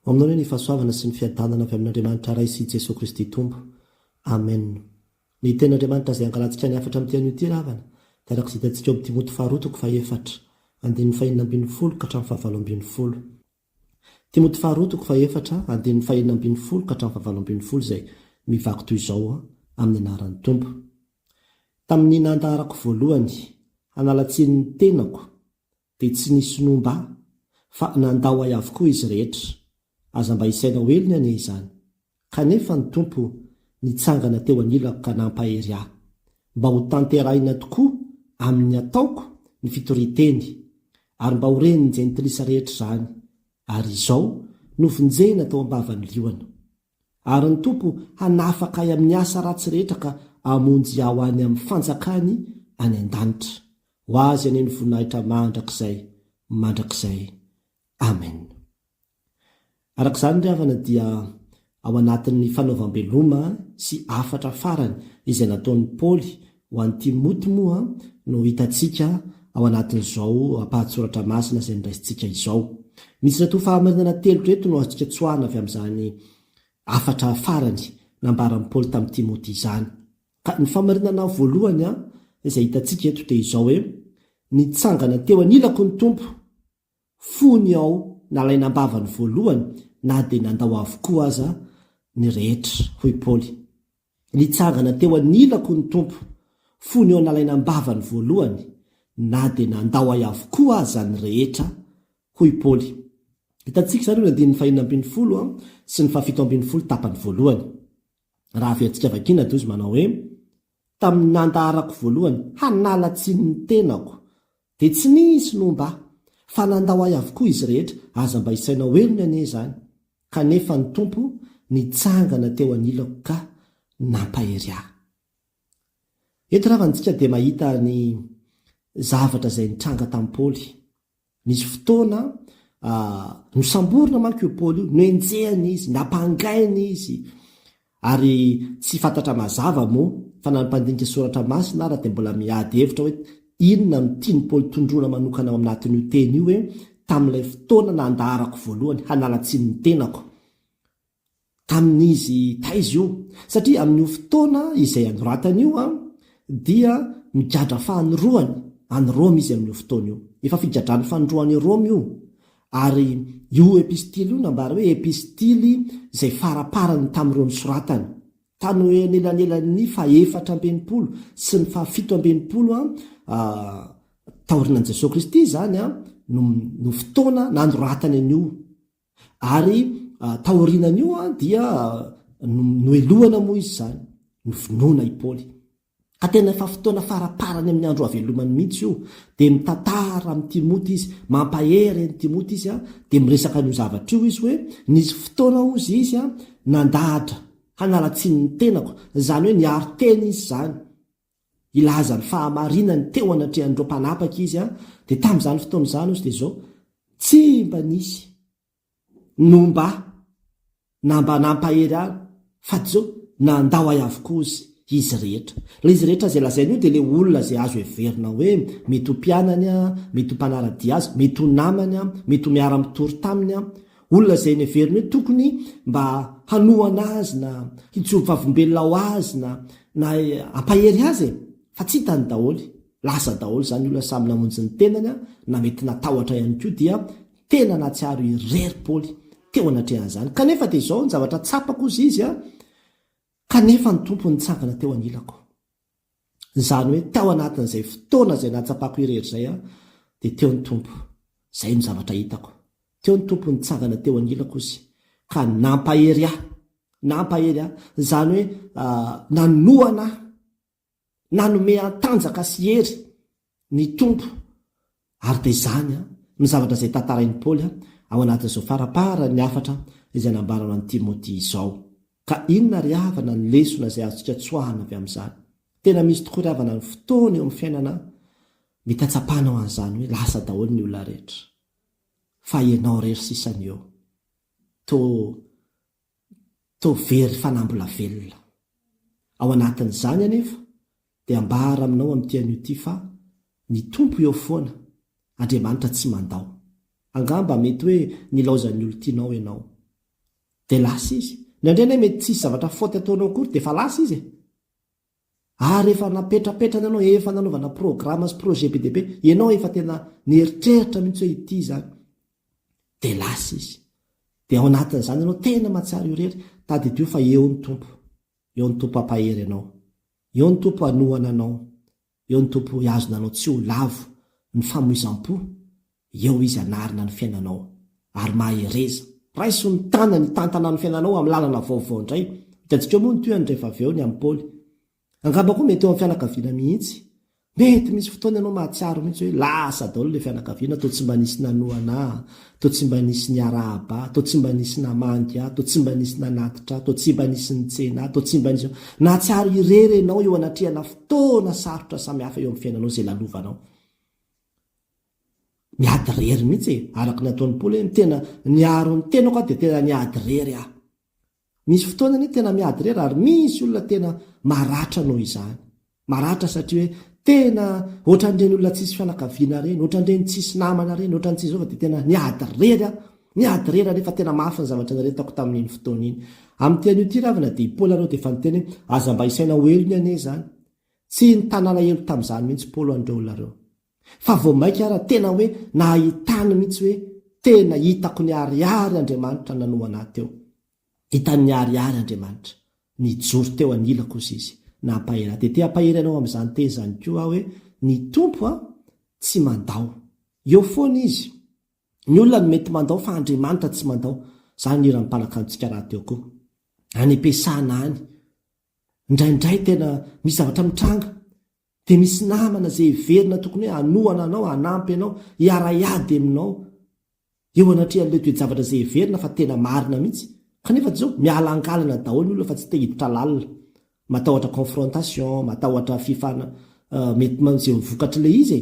Ho aminao indray ny fahasoavana sy ny fiadanana avy amin'Andriamanitra Ray sy Jesoa Kristy Tompo. Amen. Ny Tenin'Andriamanitra izay angalantsika ny hafatra amin'ity anio ity ry havana dia araka izay hitantsika ao Timoty faharoa toko fahefatra, andininy fahenina ambin'ny folo ka hatramin'ny fahavalo ambin'ny folo. Timoty faharoa toko fahefatra, andininy fahenina ambin'ny folo ka hatramin'ny fahavalo ambin'ny folo izay mivaky toy izao, Amin'ny anaran'ny Tompo. Tamin'ny nahantaharako voalohany, hanala tsiny ny tenako, Dia tsy nisy nomba ahy, fa nandao ahy avokoa izy rehetra. Aza mba isaina ho helony anie izany. Kanefa ny Tompo nitsangana teo anilako ka nampahery ahy, mba ho tanterahina tokoa amin'ny ataoko ny fitorian-teny, ary mba ho ren'ny jentilisa rehetra izany, ary izao novonjena tao am-bavan'ny liona. Ary ny Tompo hanafaka ahy amin'ny asa ratsy rehetra ka hamonjy ahy ho any amin'ny fanjakany any an-danitra. Ho Azy anie ny voninahitra mandrakizay mandrakizay. Amen. Araka izany ry havana dia ao anatin'ny fanaovam-beloma sy hafatra farany izay nataon'i Paoly Ho an'i Timoty moa no hitantsika ao anatin'izao ampahan-tsoratra masina izay noraisintsika izao. Misy natoa fahamarinana telo ireto no azontsika tsoahina avy amin'izany hafatra farany nambaran'i Paoly tamin'i Timoty izany. Ka ny fahamarinana voalohany izay hitantsika eto dia izao hoe, Nitsangana teo anilako ny Tompo. fony ao nalaina am-bavany voalohany na dia nandao avokoa aza ny rehetra, hoy Paoly. Nitsangana teo anilako ny Tompo, fony ao nalaina am-bavany voalohany na dia nandao ahy avokoa aza ny rehetra, hoy Paoly. Hitantsika izany eo amin'ny andininy fahenina ambin'ny folo sy ny fahafito ambin'ny folo tapany voalohany. Raha averintsika vakiana dia hoy izy manao hoe, Tamin'ny nandaharako voalohany hanala tsiny ny tenako Dia tsy nisy no mba. Fa nandao ahy avokoa izy rehetra, aza mba isainao heriny anie izany. Kanefa ny Tompo nitsangana teo anilako ka nampahery ahy. Eto ravana isika dia mahita ny zavatra izay nitranga tamin'i Paoly. Nisy fotoana nosamborina manko io Paoly io, nohenjehina izy, nampangaina izy, Ary tsy fantatra mazava moa fa na ny mpandinika soratra masina ara dia mbola miady hevitra hoe inona no tian'i Paoly tondroina manokana ao amnatin'io teny io hoe tamin'ilay fotoana nandaharako voalohany hanala tsiny ny tenako tamin'izy taiza io satria amin'io fotoana izay anoratany io dia migadra fanoroany any Roma izy amin'io fotoana io efa figadran'ny fanoroany eo Roma io Ary io epistily io nambara hoe epistily izay faraparany tamin'ireo nosoratany. Tany ho eo anelanelan'ny fahefatra amby enimpolo sy ny fahafito amby enimpolo AD taorian'i Jesoa Kristy izany no no fotoana nanoratany an'io. Ary taorianan'io dia nohelohana moa izy izany, novonoina i Paoly. Ka tena efa fotoana faraparany amin'ny andro havelomany mihitsy io, dia mitantara amin'i Timoty izy, mampahery an'i Timoty izy, dia miresaka an'io zavatra io izy hoe, nisy fotoana hozy izy nandahatra hanala tsiny ny tenako, izany hoe niaro tena izy izany, hilaza ny fahamarinany teo anatrehan'ireo mpanapaka izy, dia tamin'izany fotoana izany hozy dia izao, tsy mba nisy. no mba na mba nampahery ahy fa tsy zao na ndao ahy avokoa ozy izy rehetra. Ilay izy rehetra izay lazainy io dia ilay olona izay azo heverina hoe mety ho mpianany, mety ho mpanara-dia azy, mety ho namany, mety ho miara-mitory taminy, olona izay neveriny hoe tokony mba hanohana azy na hijoro vavolombelona ho azy na na hampahery azy e! fa tsy hitany daholo. lasa daholo izany olona samy namonjy ny tenany an, na mety natahotra ihany koa dia tena nahatsiaro irery Paoly teo anatrehan'izany kanefa dia izao ny zavatra tsapako hozy izy an, kanefa ny Tompo nitsangana teo anilako izany hoe tao anatin'izay fotoana izay nahatsapako irery izay an, dia teo ny Tompo, izay no zavatra hitako, teo ny Tompo nitsangana teo anilako izy ka nampahery ahy, nampahery ahy, izany hoe, ah, nanohana ahy, Nanome an-tanjaka sy hery ny Tompo, ary dia izany no zavatra izay tantarain'i Paoly ao anatin'izao faraparan'ny hafatra izay nambarany an'i Timoty izao. Ka inona ry havana ny lesona izay azontsika tsoahana avy amin'izany? Tena misy tokoa ry havana ny fotoana eo amin'ny fiainana mety hatsapanao an'izany hoe lasa daholo ny olona rehetra, fa ianao irery sisa no eo. Toa Toa very fanahy mbola velona. Ao anatin'izany anefa dia ambara aminao amin'ity anio ity fa, Ny Tompo eo foana, Andriamanitra tsy mandao. Angamba mety hoe nilaozan'ny olon-tianao ianao. Dia lasa izy. Indraindray anie mety tsy hisy zavatra faute ataonao akory dia efa lasa izy e! Ary efa napetrapetrany anao, efa nanaovana programa sy projet be dia be, ianao efa tena nieritreritra mihitsy hoe ity izany. Dia lasa izy. Dia ao anatin'izany ianao tena mahatsiaro io irery, tadidio fa eo ny Tompo. Eo ny Tompo hampahery anao. Eo ny Tompo hanohana anao. Eo ny Tompo hoy azo nanao tsy ho lavo ny famoizam-po, eo Izy hanarina ny fiainanao. Ary mahereza. Raiso ny tanany hitantana ny fiainanao amin'ny lalana vaovao indray. Higadrika moa ny tohany rehefa avy eo ny an'i Paoly. Angamba koa mety eo amin'ny fianakaviana mihitsy. Mety misy fotoana ianao mahatsiaro mihitsy hoe lasa daholo ilay fianakaviana, toa tsy mba nisy nanohana ahy. Toa tsy mba nisy niarahaba ahy, toa tsy mba nisy namangy ahy, toa tsy mba nisy nanatitra ahy, toa tsy mba nisy nitsena ahy, toa tsy mba nisy. Nahatsiaro irery ianao eo anatrehana fotoana sarotra samihafa eo amin'ny fiainanao izay lalovanao. Niady irery mihitsy e! Araka ny ataon'i Paoly hoe, Ny tena niaro ny tenako dia tena niady irery aho. Misy fotoana anie tena miady rera ary misy olona tena maratra noho izany. Maratra satria hoe tena ohatran'ireny olona tsisy fianakaviana ireny, ohatran'ireny tsisy namana ireny, ohatran'ny tsisy izao fa dia tena niady rera aho. Niady rera anie fa tena mafy ny zavatra niaretako tamin'iny fotoana iny. Amin'ity anio ity ravina dia i Paoly aloha dia efa niteny hoe aza mba isaina ho helony anie izany. Tsy nitanala helo tamin'izany mihitsy Paoly ho an'ireo olona ireo. Fa vao maika ara tena hoe nahay tany mihitsy hoe tena hitako niharihary Andriamanitra nanohana ahy teo. Hitany niharihary Andriamanitra. Nijoro teo anilako ozy Izy. Nampahery ahy. Dia te hampahery anao amin'izany teny izany koa aho hoe ny Tompo an, tsy mandao. Eo foana Izy. Ny olona no mety mandao fa Andriamanitra tsy mandao. Izany no hiran'ny mpanakantontsika rahateo koa. Any am-piasana any. Indraindray tena misy zavatra mitranga. Dia misy namana izay heverina tokony hoe hanohana anao, hanampy anao, hiara-hiady aminao eo anatrehan'ilay toe-javatra izay heverina fa tena marina mihitsy. Kanefa dia izao, miala an-kalana daholo ny olona fa tsy te hiditra lalina. Matahotra confrontation, matahotra fifana, mety manjehy ny vokatr'ilay izy e!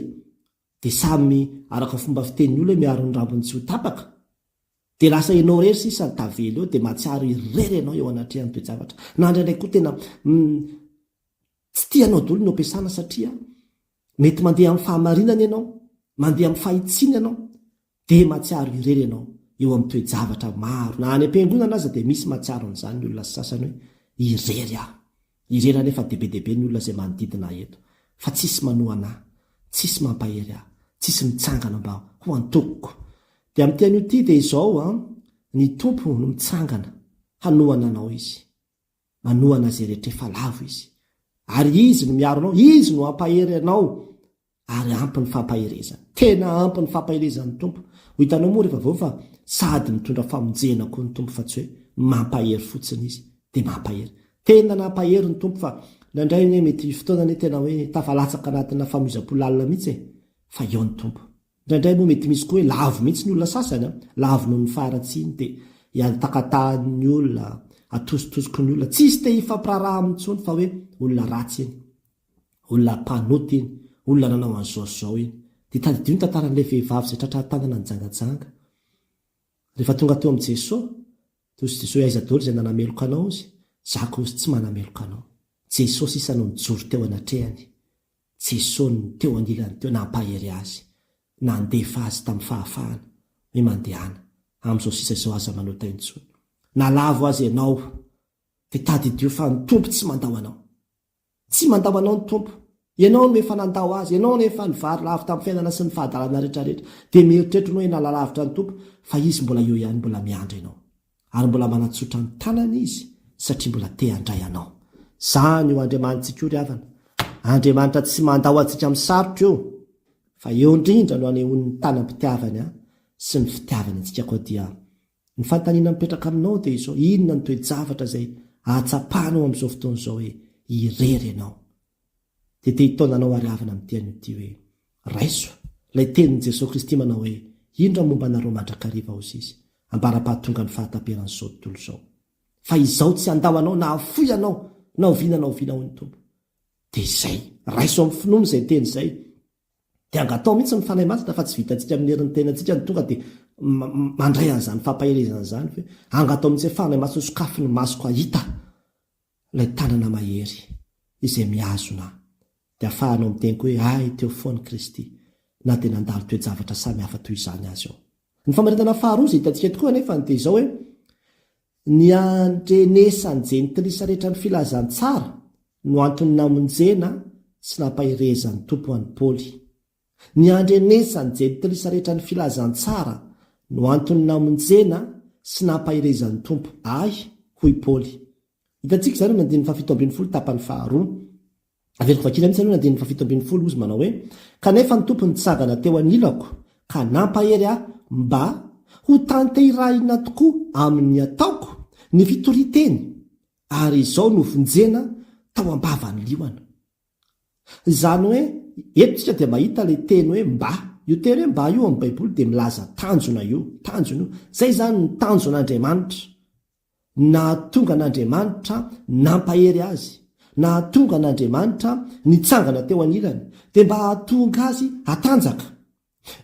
Dia samy araka ny fomba fitenin'ny olona hoe miaro ny rambony tsy ho tapaka. Dia lasa ianao irery sisa no tavela eo, dia mahatsiaro irery ianao eo anatrehan'ny toe-javatra. Na indraindray koa tena Tsy tianao doly no ampiasana satria mety mandeha amin'ny fahamarinana ianao, mandeha amin'ny fahitsiana ianao, dia mahatsiaro irery ianao eo amin'ny toe-javatra maro na any am-piangonana aza dia misy mahatsiaro an'izany ny olona sasany hoe irery aho. Irery anefa dia be dia be ny olona izay manodidina ahy eto fa tsisy manohana ahy, tsisy mampahery ahy, tsisy mitsangana mba ho antokoko. Dia amin'ity anio ity dia izao an, ny Tompo no mitsangana hanohana anao izy. manohana izay rehetra efa lavo Izy. Ary Izy no miaro anao, Izy no hampahery anao, ary ampy ny fampaherezany. Tena ampy ny fampaherezan'ny Tompo. Ho hitanao moa rehefa avy eo fa sady mitondra famonjena koa ny Tompo fa tsy hoe mampahery fotsiny Izy, dia mampahery. Tena nampahery ny Tompo fa nandray anie mety fotoana anie tena hoe tafalatsaka anatina famoizam-po lalina mihitsy e, fa eo ny Tompo. Indraindray moa mety misy koa hoe lavo mihitsy ny olona sasany an! Lavo noho ny faharatsiany, te hiantakatahany ny olona, atositosoky ny olona, tsisy te hifampiraharaha aminy intsony fa hoe olona ratsy iny, olona mpanota iny, olona nanao an'izao sy izao iny. Dia tadidio ny tantaran'ilay vehivavy izay tratra tanana nijangajanga. Rehefa tonga teo amin'i Jesoa, dia hozy Jesoa hoe aiza daholo izay nanameloka anao hozy, zaka hozy tsy manameloka anao. Jesoa sisa no nijoro teo anatrehany. Jesoa no teo anilany teo nampahery azy, nandefa azy tamin'ny fahafahana hoe mandehana, amin'izao sisa izao aza manota intsony na lavo aza ianao dia tadidio fa ny Tompo tsy mandao anao. Tsy mandao anao ny Tompo, ianao no efa nandao azy, ianao no efa nivary lavo tamin'ny fiainana sy ny fahadalana rehetrarehetra dia mieritreritro anao ianao lalavitra ny Tompo fa Izy mbola eo ihany mbola miandry anao. ary mbola manatsotra ny tanany izy satria mbola te handray anao. Zany io Andriamanitsika io ry havana, Andriamanitra tsy mandao antsika amin'ny sarotra io, fa eo indrindra no anehoany ny tanam-pitiavany an sy ny fitiavany antsika koa dia ny fanontaniana mipetraka aminao dia izao inona ny toe-javatra izay ahatsapanao amin'izao fotoana izao hoe irery ianao? Dia te hitaona anao ary havana amin'ity anio ity hoe, Raiso! Ilay tenin'i Jesoa Kristy manao hoe, Indro aho momba anareo mandrakariva ao sisa, ambara-pahatongan'ny fahataperan'izao tontolo izao. Fa izaho tsy handao anao na hafoy anao na oviana na oviana hoy ny Tompo. Dia izay! Raiso amin'ny finoana izay teny izay. Dia angataho mihitsy ny Fanahy Masina fa tsy vitantsika amin'ny herin'ny tenantsika no tonga dia mandray an'izany fampaherezana izany. Angataho mihitsy hoe, Fanahy Masina sokafy ny masoko hahita. Ilay tanana mahery izay mihazona ahy. Dia afahanao miteny koa hoe, Hay, teo foana Kristy, na dia nandalo toe-javatra samy hafa toy izany aza aho. Ny famaritana faharoa izay hitantsika eto koa anefa dia izao hoe, Ny handrenesan'ny Jentilisa rehetra ny filazantsara no antony namonjena sy nampaherezan'ny Tompo an'i Paoly. Ny handrenesan'ny jentilisa rehetra ny filazantsara no antony namonjena sy nampaherezan'ny Tompo ahy, hoy Paoly. Hitantsika izany amin'ny andininy fahafito ambin'ny folo tapany faharoa. Averiko vakiana mihitsy aloha ny andininy fahafito ambin'ny folo, hozy manao hoe, Kanefa ny Tompo nitsangana teo anilako ka nampahery ahy mba hotanterahina tokoa amin'ny ataoko ny fitorian-teny, ary izao novonjena tao am-bavan'ny liona. Izany hoe, eto isika dia mahita ilay teny hoe mba. Io teny hoe mba io ao amin'ny Baiboly dia milaza tanjona io, tanjona io. Izay izany ny tanjon'Andriamanitra. Ny nahatonga an'Andriamanitra nampahery Azy, nahatonga an'Andriamanitra nitsangana teo anilany, dia mba hahatonga Azy hatanjaka,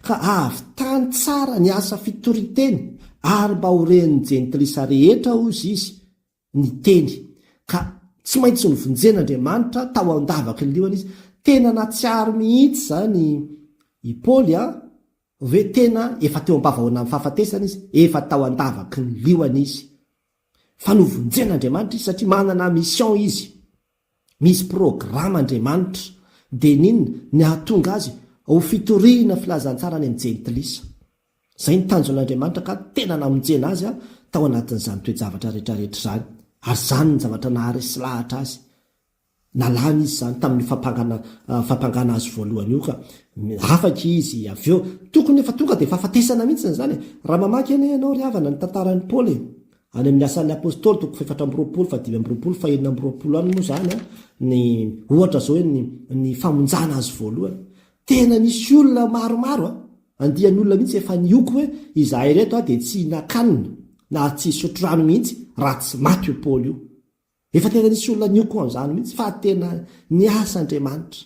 ka hahavitany tsara ny asa fitoriteny, ary mba ho ren'ny Jentilisa rehetra, hoy Izy, niteny ka tsy maintsy novonjen' Andriamanitra tao an-davaky ny lohany izy. Tena natsiaro mihitsy izany i Paoly a! hoe tena efa teo am-pavahoanan'ny fahafatesana izy, efa tao an-davaky ny lohany izy, fa novonjen' Andriamanitra izy satria manana mission izy. Misy programa Andriamanitra dia nin ny ahatonga azy ho fitoriana filazantsara any amin'ny jentilisa. Izay ny tanjon' Andriamanitra ka tena namonjena azy a tao anatin'izany toe-javatra rehetra rehetra izany ary izany ny zavatra naharesy lahatra azy. Nalana izy izany tamin'io fampangana fampangana azy voalohany io ka afaka izy avy eo. Tokony efa tonga dia fahafatesana mihitsy izany e! Raha mamaky anie ianao ry havana ny tantaran'i Paoly e! Any amin'ny Asan'ny Apostoly, toko fahefatra amby roapolo, fahadimy amby roapolo, fahenina amby roapolo any moa izany ny ohatra izao hoe ny, ny famonjana azy voalohany. Tena nisy olona maromaro a! Andian'olona mihitsy efa nioko hoe izahay ireto a dia tsy hihinan-kanina na tsy hisotro rano mihitsy raha tsy maty io Paoly io. Efa tena nisy olona nioko an'izany mihitsy fa tena niasa Andriamanitra.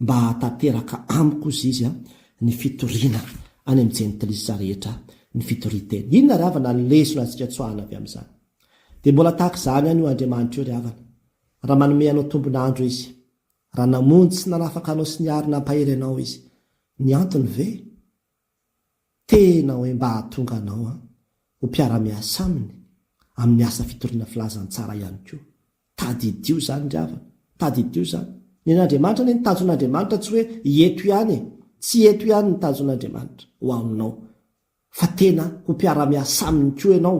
Mba hahatanteraka amiko hozy izy a, ny fitoriana any amin'ny jentilisa rehetra ny fitoria-teny. Inona ry havana ny lesona antsika tsoahina avy amin'izany? Dia mbola tahaka izany ihany io Andriamanitra io ry havana, raha manome anao tombon'andro izy, raha namonjy sy nanafaka anao sy niary nampahery anao izy. Ny antony ve? Tena hoe mba hahatonga anao ho mpiara-miasa aminy amin'ny asa fitoriana filazantsara ihany koa. Tadidio izany ry havana, tadidio izany. Nen'Andriamanitra anie ny tanjon'Andriamanitra tsy hoe eto ihany e, tsy eto ihany ny tanjon'Andriamanitra ho aminao fa tena ho mpiara-miasa aminy koa ianao.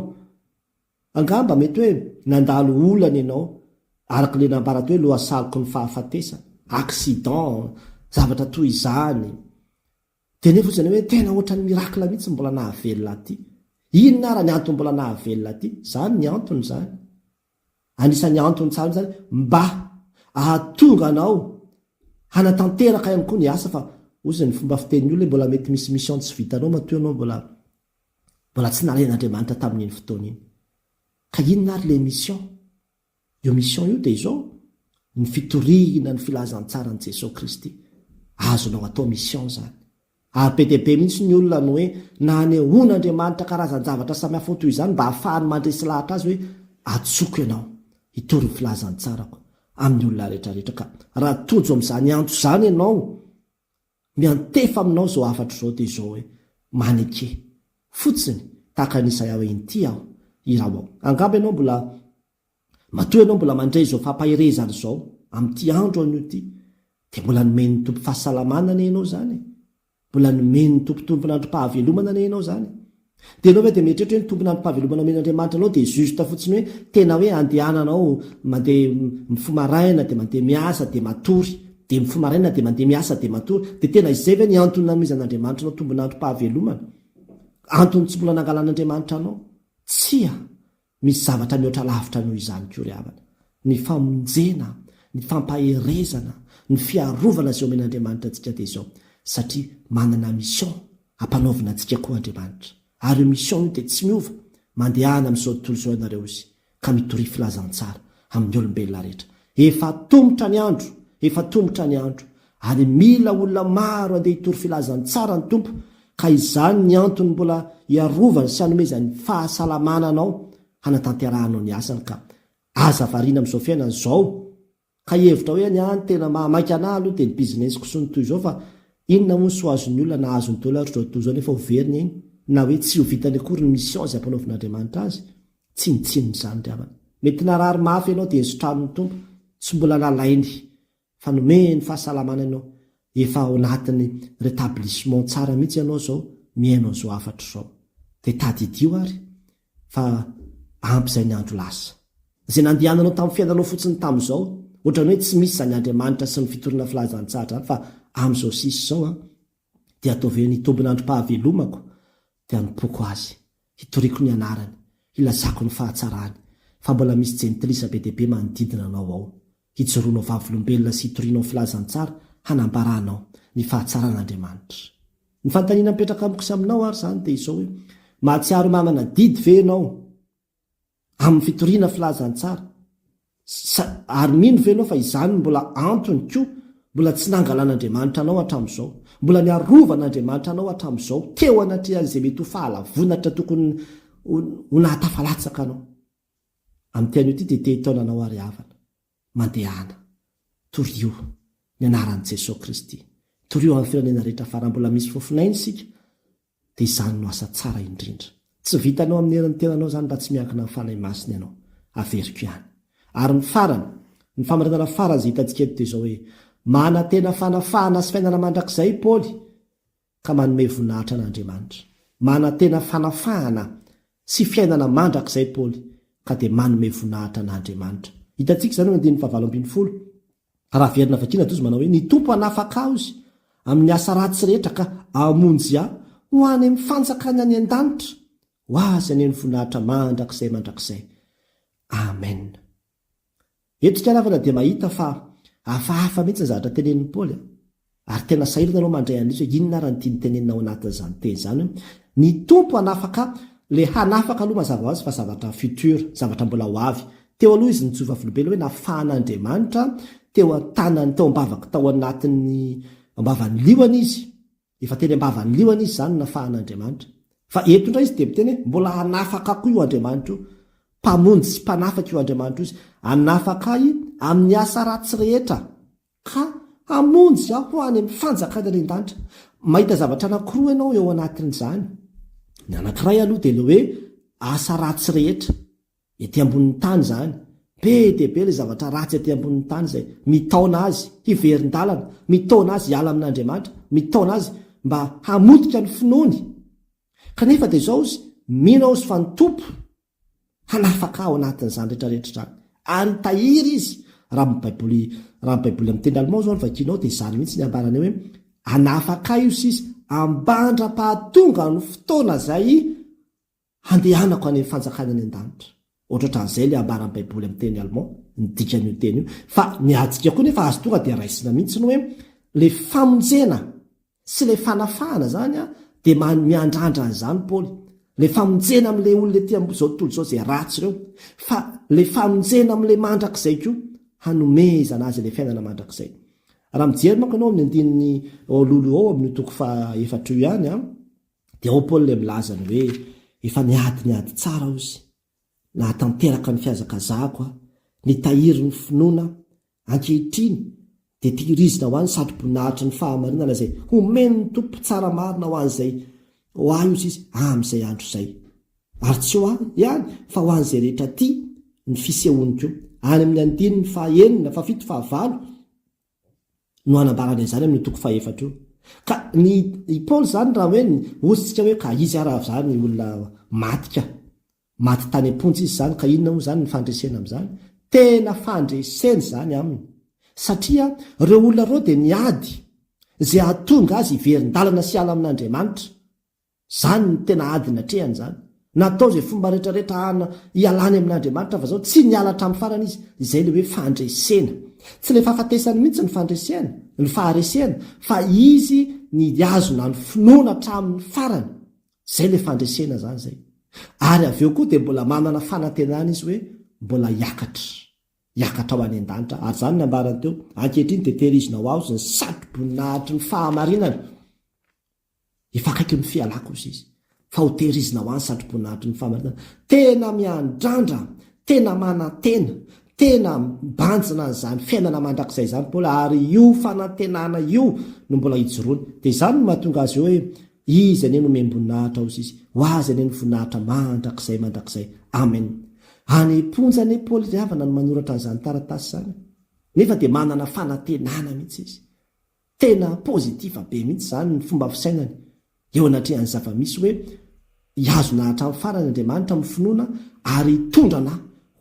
Angamba mety hoe nandalo olana ianao araka ilay nambarako hoe lohasaloko ny fahafatesana, accident, zavatra toy izany. Teneno fotsiny ianao hoe tena ohatran'ny miracle mihitsy ny mbola nahavelona aty. Inona ara ny antony mbola nahavelona aty? Zany ny antony zany. Anisan'ny antony tsara mihitsy zany mba ahatonga anao hanatanteraka ihany koa ny asa fa ozy ny fomba fitenin'ny olona hoe mbola mety misy mission tsy vitanao matoa ianao mbola mbola tsy nalain'Andriamanitra tamin'iny fotoana iny. Ka inona ary le mission? Io mission io dia izao, ny fitoriana ny filazantsaran'i Jesoa Kristy. Azonao atao mission izany. Ary be dia be mihitsy ny olona no hoe nanehoan'Andriamanitra karazan-javatra samihafa ho toy izany mba hahafahany mandresy lahatra azy hoe atsoiko ianao hitory ny filazantsarako amin'ny olona rehetra rehetra ka raha tojo amin'izany antso izany ianao Miantefa aminao izao hafatra izao dia izao hoe, Maneke. Fotsiny, tahaka an'i Isaia hoe, Inty aho. Irao aho. Angamba ianao mbola, matoa ianao mbola mandray izao fampaherezana izao, amin'ity andro anio ity, dia mbola nomen'ny Tompo fahasalamana anie ianao izany e! Mbola nomen'ny Tompo tonton'androm-pahavelomana anie ianao izany e! Dia enao ve dia mieritreritra hoe ny tompon ampavelomana omen Andriamanitra anao dia juste fotsiny hoe tena hoe andehanana ao mandeha mifoha maraina dia mandeha miasa dia matory dia mifoha maraina dia mandeha miasa dia matory dia tena izay ve ny antony nanomezan Andriamanitra anao tombonandro pahavelomana antony tsy mbola nangalan Andriamanitra anao tsia Misy zavatra mihoatra lavitra noho izany koa ry havana, ny famonjena, ny fampaherezana, ny fiarovana izay omen'Andriamanitra antsika dia izao, satria manana mission ampanaovina antsika koa Andriamanitra, ary io mission io dia tsy miova, mandehana amin'izao tontolo izao ianareo izy, ka mitoria filazantsara amin'ny olombelona rehetra. Efa atomotra ny andro, efa atomotra ny andro, Ary mila olona maro andeha hitory filazantsara ny Tompo ka izany ny antony mbola hiarovany sy hanomezany fahasalamana anao hanatanterahanao ny asany ka aza variana amin'izao fiainana izao ka hihevitra hoe ny ahy ny tena maha maika anahy aloha dia ny business-ko sy ny toy izao fa inona moa ny soa azon'ny olona nahazo ny dollars izao tontolo izao nefa ho very ny ainy na hoe tsy ho vitany akory ny mission izay ampanaovin'Andriamanitra azy tsinontsinona izany ry havana mety narary mafy ianao dia esotranin'ny Tompo tsy mbola nalainy fa nomehiny ny fahasalamana ianao, efa ao anatin'ny rétablissement tsara mihitsy ianao izao, mihaino an'izao hafatra izao. Dia tadidio ary fa ampy izay ny andro lasa. Izay nandehananao tamin'ny fiainanao fotsiny tamin'izao, ohatran'ny hoe tsy misy izany Andriamanitra sy ny fitoriana filazantsara izany fa amin'izao sisa izao an, dia ataovy hoe ny tombin'androm-pahavelomako dia anompoako Azy, hitoriako ny anarany, hilazako ny fahatsarany, fa mbola misy jentilisa be dia be manodidina anao ao. Hijoroanao vavolombelona sy hitorianao filazantsara hanambara anao ny fahatsaran'Andriamanitra. Ny fanontaniana mipetraka amiko sy aminao ary izany dia izao hoe, mahatsiaro manana adidy ve ianao amin'ny fitoriana filazantsara sa ary mino ve ianao fa izany no mbola antony koa mbola tsy nangalan'Andriamanitra anao hatramin'izao, mbola niarovan'Andriamanitra anao hatramin'izao teo anatrehan'izay mety ho fahalavonatra tokony ho nahatafalatsaka anao? Amin'ity anio ity dia te hitaona anao àry havana. Mandehana. Torio. Ny anaran'i Jesoa Kristy. Torio amin'ny firenena rehetra fa raha mbola misy fofon'aina isika dia izany no asa tsara indrindra. Tsy vitanao amin'ny herin'ny tenanao izany raha tsy miankina amin'ny Fanahy Masina ianao. Averiko ihany. Ary ny farany, ny famarinana farany izay hitantsika eto dia izao hoe, Manantena fanafahana sy fiainana mandrakizay i Paoly. ka manome voninahitra an'Andriamanitra. Manantena fanafahana sy fiainana mandrakizay Paoly ka dia manome voninahitra an'Andriamanitra. Hitantsika izany eo amin'ny andininy fahavalo ambin'ny folo. Raha averina vakiana dia toa izy manao hoe, Ny Tompo hanafaka ahy, hozy, amin'ny asa ratsy rehetra ka hamonjy ahy ho any amin'ny fanjakany any an-danitra. Ho Azy anie ny voninahitra mandrakizay mandrakizay. Amena. Eto ikanavana dia mahita fa hafahafa mihitsy ny zavatra tenenin'i Paoly, ary tena sahirana ianao mandray an'izy hoe inona ary ny tiany tenenina ao anatin'izany teny izany hoe ny Tompo hanafaka le hanafaka aloha mazava ho azy fa zavatra futur, zavatra mbola ho avy. Teo aloha izy nijoro vavolombelona hoe nafahan'Andriamanitra teo an-tanany tao am-bavaka tao anatin'ny am-bavan'ny liona izy. Efa teny am-bavan'ny liona izy izany nafahan'Andriamanitra. Fa eto indray izy dia miteny hoe mbola hanafaka koa io Andriamanitra io. Mpamonjy sy Mpanafaka io Andriamanitra io izy. Hanafaka ahy amin'ny asa ratsy rehetra, ka hamonjy aho ho any amin'ny fanjakan'ny Andriandanitra. Mahita zavatra anankiroa ianao eo anatin'izany. Ny anankiray aloha dia ilay hoe asa ratsy rehetra. Ety ambonin'ny tany izany. Be dia be ilay zavatra ratsy ety ambonin'ny tany izay mitaona azy hiverin-dalana, mitaona azy hiala amin'Andriamanitra, mitaona azy mba hamotika ny finoany. Kanefa dia izao izy, Mino aho izy fa ny Tompo hanafaka ahy ao anatin'izany rehetra rehetra izany. Ary tahiry izy. Raha ny Baiboly, raha ny Baiboly amin'ny teny Allemand izao no vakianao dia izany mihitsy ny ambarany eo hoe, Hanafaka ahy io Sisa, ambandra-pahatongan'ny fotoana izay Handehanako any amin'ny fanjakany any an-danitra. Ohatrohatran'izay ilay ambaran'ny Baiboly amin'ny teny alemà, ny dikan'io teny io. Fa ny adika koa nefa azo tonga dia raisina mihitsy ny hoe ilay famonjena sy ilay fanafahana izany dia man, miandrandra an'izany Paoly. Ilay famonjena amin'ilay olona ety amin'izao tontolo izao izay ratsy ireo, fa ilay famonjena amin'ilay mandrakizay koa, hanomezana azy ilay fiainana mandrakizay. Raha mijery manko ianao amin'ny andininy eo alohaloha eo amin'io toko faha efatra io ihany, Dia ao Paul ilay milaza ny hoe efa niady ny ady tsara aho sy nahatanteraka ny fihazakazahako aho, nitahiry ny finoana aho, ankehitriny dia tehirizina ho ahy ny satroboninahitry ny fahamarinana izay homen'ny Tompo tsara marina ho an'izay ho ahy ozy izy amin'izay andro izay. Ary tsy ho ahy ihany fa ho an'izay rehetra tia ny fisehoany koa. Any amin'ny andininy faha enina, fahafito, fahavalo. no anambarana izany amin'io toko fahefatra io. Ka ny i Paoly izany raha hoe hozintsika hoe ka izy ary avy izany olona maty ka, maty tany am-ponja izy izany ka inona moa izany ny fandresena amin'izany? Tena fandresena izany aminy satria ireo olona ireo dia niady izay hahatonga azy hiverin-dalana sy hiala amin'Andriamanitra. Izany no tena adiny hatrehany izany. Natao izay fomba rehetra rehetra hahana hialany amin'Andriamanitra fa izao tsy niala hatramin'ny farany izy. Izay ilay hoe fandresena. Tsy ilay fahafatesany mihitsy no fandresehana, no faharesehana, fa izy ny hihazona ny finoana hatramin'ny farany. Izay ilay fandresena izany izay. Ary avy eo koa dia mbola manana fanantenana izy hoe mbola hiakatra. Hiakatra ho any an-danitra. Ary izany no nambarany teo, Ankehitriny dia tehirizina ho aho izy ny satroboninahitry ny fahamarinana. Efa akaiky ny fialako hozy izy fa ho tehirizina ho any satroboninahitry ny famarinana. Tena miandrandra, tena manantena, tena mibanjina an'izany fiainana mandrakizay izany Paoly ary io fanantenana io no mbola ijoroany. Dia izany no mahatonga azy hoe, Izy anie no miamboninahitra hozy izy, ho azy anie ny voninahitra mandrakizay mandrakizay. Amen. Any am-ponja anie Paoly ry havana no manoratra an'izany taratasy izany nefa dia manana fanantenana mihitsy izy. Tena positif be mihitsy izany ny fomba fisainany eo anatrehan'ny zava-misy hoe hihazona hatramin'ny farany Andriamanitra amin'ny finoana ary hitondra anà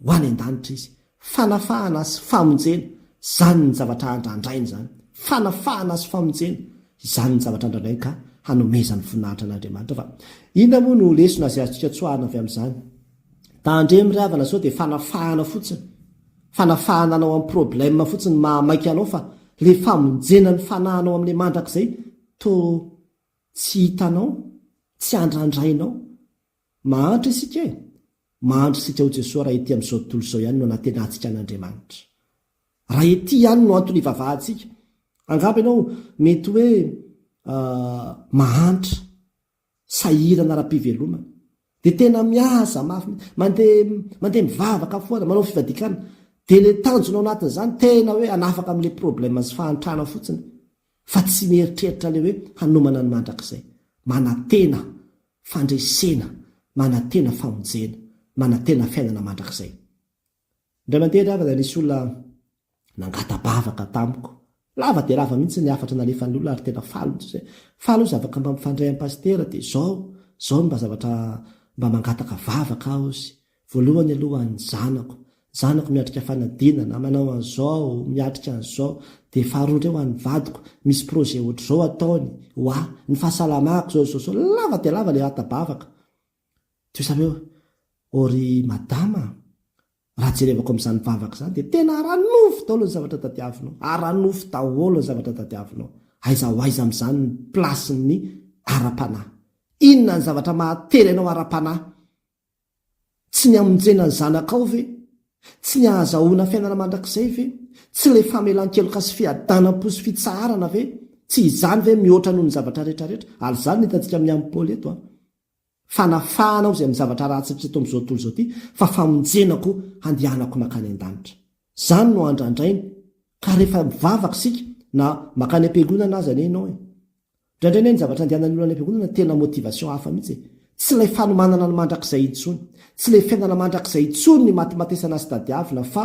ho any an-danitra Izy. Fanafahana sy famonjena izany ny zavatra andrandrainy izany. Fanafahana sy famonjena izany ny zavatra andrandrainy ka hanomezany voninahitra an'Andriamanitra. Fa inona moa no lesona izay azontsika tsoahina avy amin'izany? Tandremo ry havana sao dia fanafahana fotsiny, fanafahana anao amin'ny problème fotsiny no mahamaika anao fa ilay famonjena ny fanahinao amin'ilay mandrakizay toa tsy hitanao, tsy andrandrainao. Mahantra isika e! Mahantra isika ao Jesoa raha ety amin'izao tontolo izao ihany no anantenantsika an'Andriamanitra. Raha ety ihany no antony ivavahantsika. Angamba ianao mety hoe mahantra. sahirana ara-pivelomana dia tena miasa mafy mihitsy, mandeha mandeha mivavaka foana, manao fivadikana, dia ilay tanjona ao anatin'izany tena hoe hanafaka amin'ilay problème sy fahantrana fotsiny fa tsy mieritreritra ilay hoe hanomana ny mandrakizay, manantena fandresena, manantena famonjena, manantena fiainana mandrakizay. Indray mandeha indray avana nisy olona nangata-bavaka tamiko. Lava dia lava mihitsy ny hafatra nalefan'ny olona ary tena faly ny sasany. Faly hoy zavaka mba mifandray amin'i Pasitera dia izao, izao no mba zavatra mba mangataka vavaka aho hozy. Voalohany aloha ny zanako. Ny zanako miatrika fanadinana, manao an'izao, miatrika an'izao. Dia faharoa indray ho an'ny vadiko, misy projet ohatr'izao ataony ho ahy. Ny fahasalamako izao, izao, izao. Lava dia lava ilay hata-bavaka. Teo zany hoe ô ry madama a! Raha jerevako amin'izany vavaka izany dia tena ara-nofo daholo ny zavatra tadiavinao. Ara-nofo daholo ny zavatra tadiavinao. Aiza ho aiza amin'izany ny plasin'ny ara-panahy? Inona ny zavatra mahatery anao ara-panahy? Tsy ny hamonjena ny zanakao ve? Tsy ny hahazahoana fiainana mandrakizay ve? Tsy ilay famelan-keloka sy fiadanam-po sy fitsaharana ve? Tsy izany ve mihoatra noho ny zavatra rehetra rehetra? Ary izany no hitantsika amin'ny an'i Paoly eto a! Fanafahana aho izay amin'ny zavatra ratsy rehetra eto amin'izao tontolo izao ity, fa famonjena koa handehanako mankany an-danitra. Izany no andrandrainy ka rehefa mivavaka isika, na mankany am-piangonana aza anie ianao e! Indraindray anie ny zavatra andehanan'ny olona any am-piangonana tena motivation hafa mihitsy e! Tsy ilay fanomanana ny mandrakizay intsony, tsy ilay fiainana mandrakizay intsony ny matimatesana sy tadiavina fa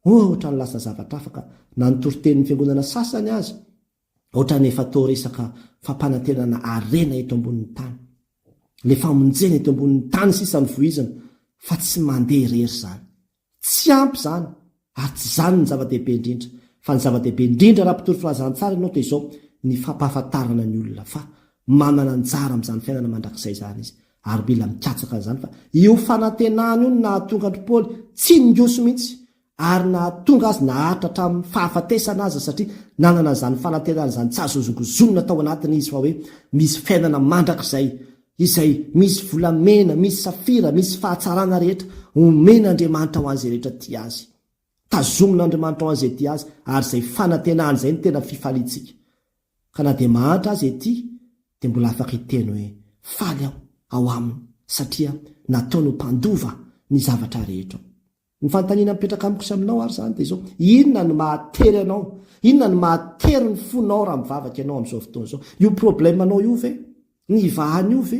ohatran'ny lasa zavatra hafa ka na ny toritenin'ny fiangonana sasany aza Ohatran'ny efa atao resaka fampanantenana harena eto ambonin'ny tany. Le famonjena eto ambonin'ny tany sisa no vohizina fa tsy mandeha irery zany. Tsy ampy zany ary tsy zany ny zava-dehibe indrindra fa ny zava-dehibe indrindra raha mpitory filazantsara ianao toy izao ny fampahafantarana ny olona fa manana anjara amin'izany fiainana mandrakizay izany izy ary mila mikatsaka an'izany fa io fanantenana io no nahatonga an-dry Paoly tsy ningoso mihitsy ary nahatonga azy naharitra hatramin'ny fahafatesana aza satria nanana izany fanantenana izany tsy azo hozongozonina tao anatiny izy fa hoe misy fiainana mandrakizay izay misy volamena, misy safira, misy fahatsarana rehetra omen'Andriamanitra ho an'izay rehetra tia Azy. Tazomin'Andriamanitra ho an'izay tia Azy ary izay fanantenany izay no tena fifaliantsika. Ka na dia mahantra aza ity dia mbola afaka hiteny hoe faly aho ao Aminy satria nataony ho mpandova ny zavatra rehetra. Ny fanontaniana mipetraka amiko sy aminao ary izany dia izao, inona no mahatery anao, inona no mahatery ny fonao raha mivavaka ianao amin'izao fotoana izao? Io problème anao io ve? Ny ivahana io ve?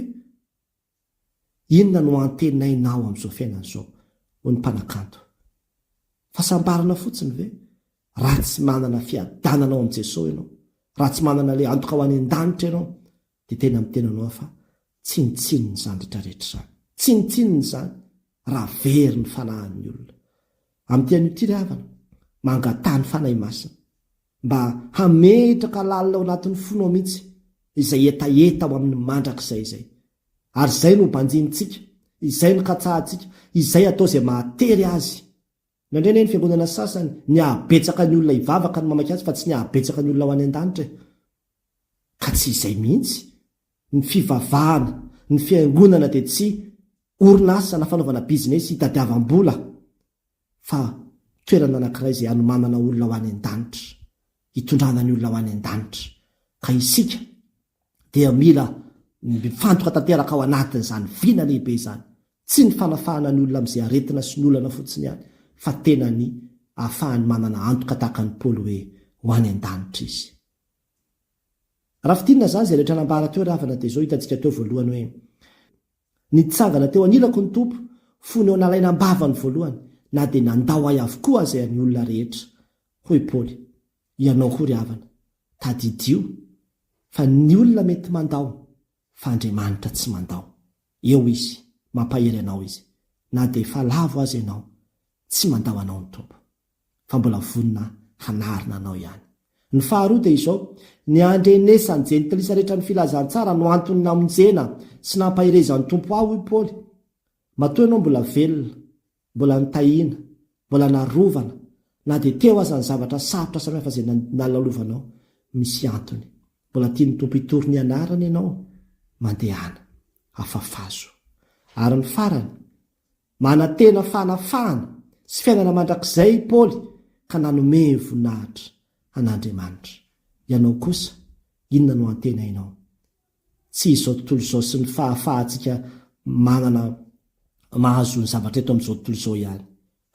Inona no antenainao amin'izao fiainana izao? hoy ny mpanakanto. Fahasambarana fotsiny ve? Raha tsy manana fiadanana ao amin'i Jesosy ianao, raha tsy manana ilay antoka ho any an-danitra ianao, Dia tena ny tenanao aho fa tsinontsinona izany rehetra rehetra izany. Tsinontsinona izany raha very ny fanahin'ny olona. Amin'ity anio ity ry havana, mangataha ny Fanahy Masina mba hametraka lalina ao anatin'ny fonao mihitsy izay hetaheta ho amin'ny mandrakizay izay. Ary izay no ho banjinintsika, izay no katsahantsika, izay atao izay mahatery azy. Nandre anie ny fiangonana sasany ny hahabetsaka ny olona hivavaka no mamaky azy fa tsy ny hahabetsaka ny olona ho any an-danitra e! Ka tsy izay mihitsy ny fivavahana, ny fiangonana dia tsy orinasa na fanaovana business hitadiavam-bola fa toerana anankiray izay hanomanana olona ho any an-danitra. hitondrana ny olona ho any an-danitra. Ka isika dia mila mifantoka tanteraka ao anatin'izany vina lehibe izany. Tsy ny fanafahana ny olona amin'izay aretina sy ny olana fotsiny ihany, fa tena ny ahafahany manana antoka tahaka an'i Paoly hoe ho any an-danitra izy. Raha fintinina izany izay rehetra nambara teo ry havana dia izao hitantsika teo voalohany hoe Nitsangana teo anilako ny Tompo, fony eo nalaina am-bava ny voalohany, na dia nandao ahy avokoa aza ny olona rehetra. Hoy i Paoly, Ianao koa ry havana, tadidio fa ny olona mety mandao, fa Andriamanitra tsy mandao. Eo Izy, mampahery anao Izy, na dia efa lavo aza ianao, tsy mandao anao ny Tompo. fa mbola vonona hanarina anao ihany. Ny faharoa dia izao, ny handrenesan'ny jentilisa rehetra ny filazantsara no antony namonjena sy nampaherezan'ny Tompo ahy hoy Paoly. Matoa ianao mbola velona, mbola nitahiana, mbola narovana, na dia teo aza ny zavatra sarotra samihafa izay nalalovanao, misy antony. Mbola tian'ny Tompo hitory ny anarany ianao, mandehana, afafazo. Ary ny farany, Manantena fanafahana sy fiainana mandrakizay i Paoly ka nanome voninahitra an'Andriamanitra. Ianao kosa, inona no antenainao? Tsy izao tontolo izao sy ny fahafahantsika manana mahazo ny zavatra eto amin'izao tontolo izao ihany,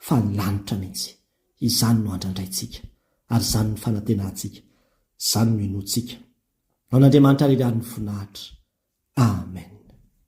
fa ny lanitra mihitsy. Izany no andrandraintsika, ary izany no fanantenantsika, izany no inoantsika. Ho an'Andriamanitra ary irery ny voninahitra. Amen.